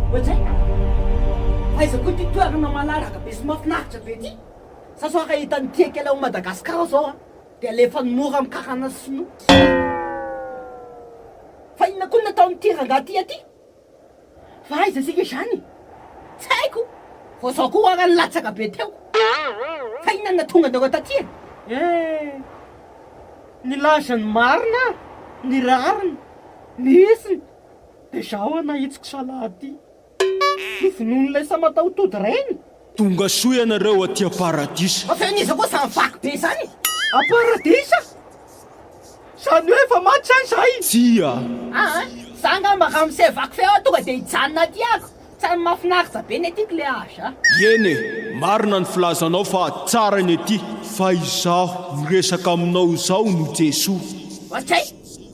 Ohatr'ay? Aiza koa ity toerana malalaka be sy mahafinaritra be ity? Sa sao raha hitan'ny mpiaika ilay ao Madagascar izao an, dia alefany mora amin'ny karana sinoa? Fa inona koa no nataon'ity rangahy ity aty? Fa aiza isika izany? Tsy haiko! Vao izao koa ara nilatsaka be teo! Fa inona no nahatonga anareo taty e? Eh! Nilaza ny marina aho, ny rariny. Ny isiny dia izaho hanahitsiko salady ity. Ho vonoin'ilay samatahotody reny. Tongasoa ianareo aty am-paradisa. Avy any iza koa izany vaky be izany? Am-paradisa? Izany hoe efa maty sa izay? Tsia. Aa, izaho angamba raha misy vaky feo aho tonga dia hijanona aty ako. Tany mafinaritra be ny aty kle âge a. Eny e, marina ny filazanao fa tsara ny aty. Fa izaho miresaka aminao izao no Jesoa. Okey,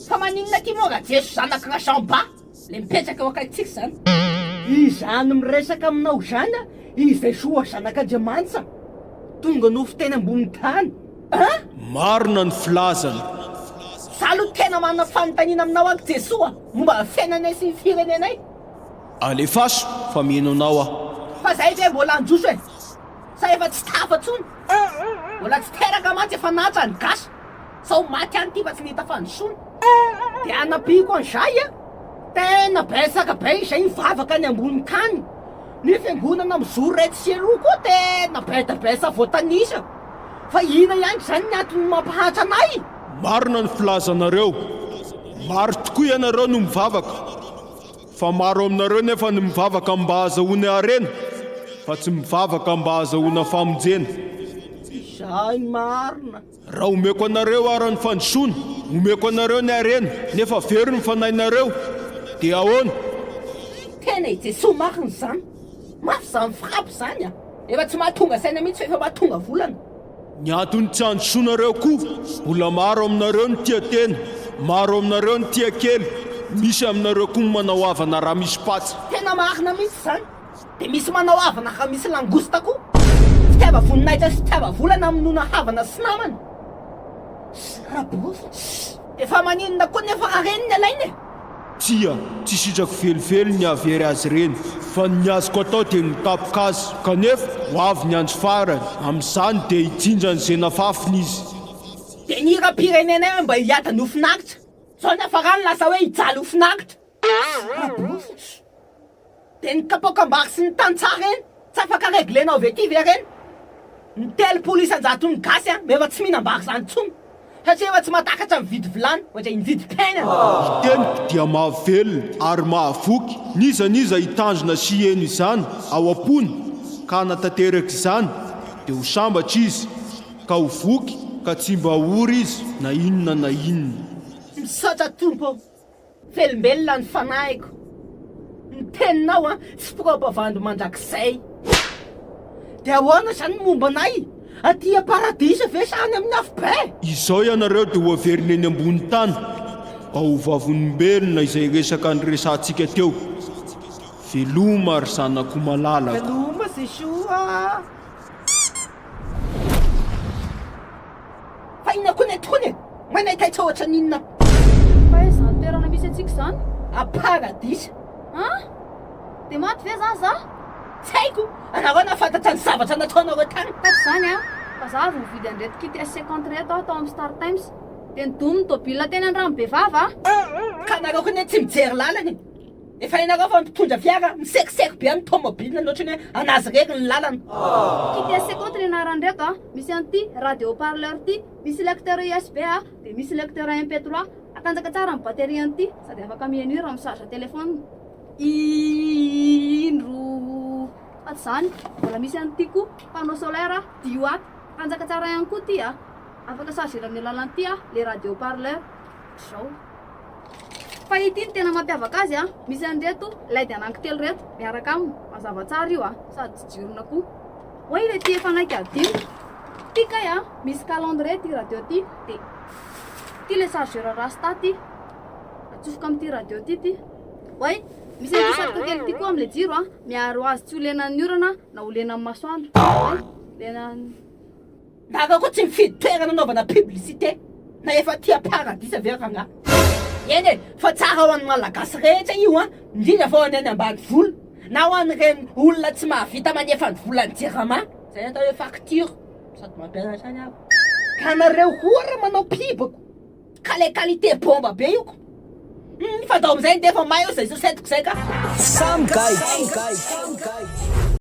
fa maninona aty moa ra Jeso zanak'i Rajamba le mipetraka eo akaikitsika izany? Izany miresaka aminao izany a, i Jesoa zanak'Andriamanitsa tonga nofo teny ambony tany a. Marina ny filazany. Za aloha tena manana fanontaniana aminao aky Jesoa momba ny fiainanay sy ny firenenay. Alefaso fa mino anao aho. Fa zay ve mbola anjoso e? Sa efa tsy tafa tsony? Mbola tsy teraka mantsy efa natsa ny gasy sao maty any ty fa tsy nita fandrosona. De anampiako anzay a, tena betsaka be izay mivavaka any ambony tany, ny fiangonana mizoro etsy sy eroa koa tena be de be sa voatanisa, fa ina ihany ry zany ny antony mampahantra anay? Marina ny filazanareo, maro tokoa ianareo no mivavaka Fa maro aminareo nefa ny mivavaka mba hahazahoany harena, fa tsy mivavaka mba hahazahoana famonjena. Izay ny marina. Raha omeko anareo ara ny fandrosoana, omeko anareo ny harena, nefa very ny fanahinareo, dia ahoana? Tena i Jesoa marina izany. Mafy izany frappe izany a! Efa tsy mahatonga saina mihitsy fa efa mahatonga volana. Ny antony tsy androsoanareo koa, mbola maro aminareo ny tia tena, maro aminareo ny tia kely, misy aminareo koa ny manao havana raha misy patsa. Tena marina mihitsy izany. Dia misy manao havana raha misy langouste koa. Fitiava-voninahitra sy fitiava-vola namonoana havana sy namana. Sy raha-borofo. Dia fa maninona koa nefa raha ireny ny alaina e? Tsia, tsy sitrako velively ny hahavery azy ireny, fa ny azoko atao dia ny mitapoka azy. Kanefa, ho avy ny andro farany, amin'izany dia hijinja ny zenafafiny izy. Dia ny hiram-pirenenay hoe mba hiady ny ho finaritra. Izao ny hafarany lasa hoe hijaly ho finaritra. Sy rabofin'ny. De ny kapoakambary sy ny tantsaha reny tsy afaka reglenao avy aty ve reny? Ny telopolo isan-jaton'ny gasy an efa tsy mihinam-bary zany intsony satria efa tsy mahatakatra mividy vilany ohatry ny mividy pain an! Ny teniko dia mahavelona ary mahavoky n'iza n'iza hitandrina sy hieno izany ao am-pony ka hanatanteraka izany dia ho sambatra izy ka ho voky ka tsy mba ho ory izy na inona na inona. Misaotra Tompo ô! Velombelona ny fanahiko ny teninao an! Tsy proba vandy mandrakizay! Dia ahoana izany ny momba anay? Aty am-paradisa ve sa any amin'ny afobe? Izao ianareo dia hoaverina eny ambony tany ao vavolombelona izay resaka niresahantsika teo. Veloma ry zanako malalako. Veloma Jesoa a! Fa inona koa ne tokoany e? Moa nahitaitsa ohatra ny inona? Fa aiza zany toerana misy antsika zany? A paradisa. An? Dia maty ve zany za? Tsy haiko! Anareo nahafantatra ny zavatra nataonareo tany. Tato zany an, fa za avy nividy an'ireto kit S cinquante ireto aho tao amin'ny Star Times. Dia nidonon'ny tôbila teny Andranobe vava aho. Ka anareo koa ne tsy mijery lalana e! Efa hainareo fa mpitondra fiara misekiseko be amin'ny tomobilina ny ohatran'ny hoe an'azy irery ny lalana. Kite Seco ty ny anarany reto a, misy an'ity radio haut parleur ty, misy lecteur USB a, dia misy lecteur MP trois, atanjaka tsara ny batterie an'ity sady afaka miheno hira mi-charge téléphone. Indro fa tsy izany, mbola misy an'ity koa, panneau solaire a, dix watt, tanjaka tsara ihany koa ty a, afaka charger-na amin'ny alalan'ity a, le radio haut parleur, ohatr'izao. Fa ity no tena mampiavaka azy a! Misy an'ireto led anankitelo ireto miaraka aminy, mazava tsara io a! Sady tsy jirona koa. Oay ilay tia efa hanaiky hadino. Ity kay a! Misy calendrier ity radio ity, dia ity ilay chargeur rasta ity. Atsofoka amin'ity radio ity ity. Oay, misy an'ity satroka kely ity koa amin'ilay jiro a! Miaro azy tsy ho lenan'ny orana na ho lenan'ny masoandro. Oay, lenan'ny. Gaga koa tsy mifidy toerana anaovana publicité na efa tia paradisa ve rangah. Eny e, fa tsara ho an'ny Malagasy rehetra io an, indrindra fa ho an'ny any ambanivolo na ho an'ireny olona tsy mahavita manefa ny volan'ny jirama, izay atao hoe facture, sady mampiasa ihany aho. Ka nareo koa ra manao pub ko ka le qualité bomba be io ko humm fa dao amizay ndefa may eo zay sosentiko zay ka. Samy gaigy.